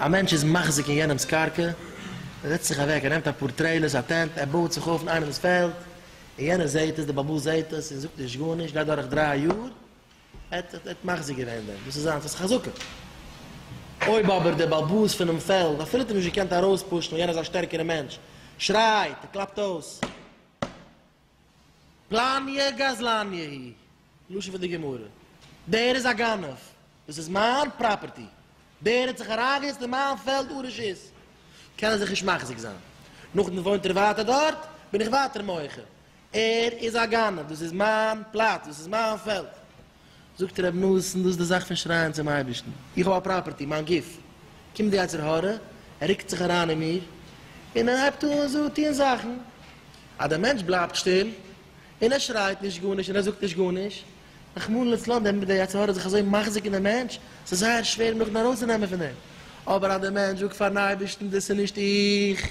א מענטש איז מחזיק אין יענעמס קרקע, ער זעצט זיך אוועק, ער נעמט אפאר טרעילערס, א טענט, ער בויעט זיך אויף אין איינעמס פעלד, און יענער זעט עס, דער בעל הבית זעט עס, און זאגט נישט גארנישט, גייט דורך דריי יאר, ער האט האט מחזיר געווען דעם, דאס איז זיינס, עס איז חזקה. אויב אבער דער באלבאס פונעם פעלד אפילו האט אים נישט געקענט ארויספושן ווייל יענער איז א שטערקערע מענטש, שרייט און קלאפט אויס, פלניה גזלניה היא, לשון פון די גמרא, דער איז א גנב, דאס איז מיין פראפערטי, דער האט זיך אריינגעזעצט אין מיין פעלד אן רשות, קען ער זיך נישט מחזיק זיין. נאכדעם וואוינט ער ווייטער דארט, בין איך ווייטער מוחה. ער איז א גנב, דאס איז מיין פלאץ, דאס איז מיין פעלד. זאגט ר' נתן, דאס איז די זאך פון שרייען צום אייבערשטן, איך האב א פראפערטי, מיין גוף. קומט די יצר הרע, ער רוקט זיך אריין אין מיר, און ער הייבט אן זאגן, טון זאכן. אז דער מענטש בלייבט שטיל, און ער שרייט נישט גארנישט, און ער זאגט נישט גארנישט, רחמנא לצלן, דעמאלט איז דער יצר הרע זיך אזוי מחזיק אין דעם מענטש, ס'איז זייער שווער אים נאכדעם ארויסצונעמען פון דעם. אבער אז דער מענטש זאגט פאר'ן אייבערשטן, דאס איז נישט איך.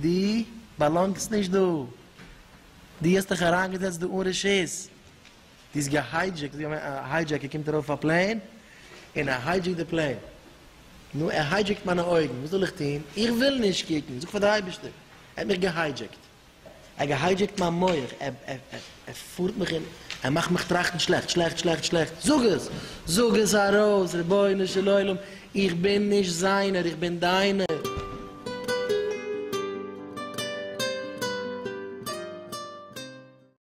דו באלאנגסט נישט דא, דו האסט דיך אריינגעזעצט דא אן רשות, דו האסט געהיידזשעקט, א היידזשעקער קומט ארויף אויף א פלעין און ער היידזשעקט די פלעין, נו ער היידזשעקט מיינע אויגן, וואס זאל איך טון, איך וויל נישט קוקן, זאג פאר די אייבערשטער, ער האט מיך געהיידזשעקט. ער געהיידזשעקט מיין מח, ער פארט מיך און ער מאכט מיך טראכטן שלעכט, שלעכט, שלעכט, שלעכט, זאג עס! זאג עס ארויס! רבונו של עולם, איך בין נישט זיינער, איך בין דיינער!